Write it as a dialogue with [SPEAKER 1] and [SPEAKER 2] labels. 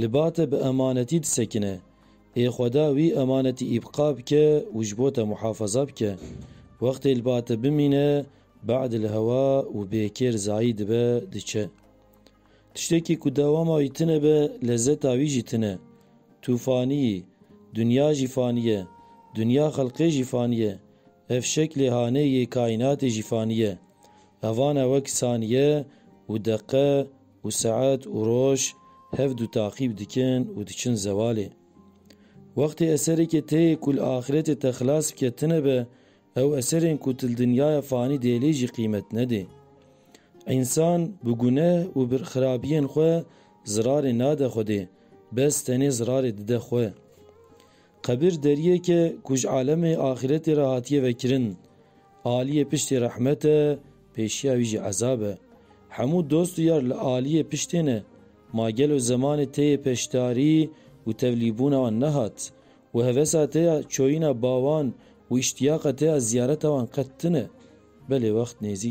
[SPEAKER 1] Li ba te bi emanetî disekine. Ê Xweda wî emanetî îbqa bike û ji bo te muhafaza bike. Wextê li ba te bimîne, bad li hewa û bêkêr zayî dibe, diçe. Tiştekî ku dewama wî tune be, lezeta wî jî tune. Tu fanî yî. Dinya jî fanî ye. Dinya xelqê jî fanî ye. Ev şeklê hanê yê kaînatê jî fanî ye. Ev ane wek saniye û deqe, Û saet û roj hev du taqîb dikin û diçin zewalê. Wextê eserekê têyê ku li axîretê te xilas bike tine be, ew eserên ku tu li dinyaya fanî dê lê jî qîmet nedê. Însan bi guneh û bi xirabiyên xwe zirarê nade Xwedê, bes tenê zirarê dide xwe. Qebir deriyek e ku ji alemê axîretê re hatiye vekirin. Aliyê piştê rehmet e, Pêşiya wî jî ezab e. Hemû dost û yar li aliyê piştê ne. Ma gelo zemanê te yê peşdarî û tevlîbûna wan nehat? Û hevesa te ya çoyîna bawan û îştiyaqa te ya ziyareta wan qet tune? Belê wext nêzîk e.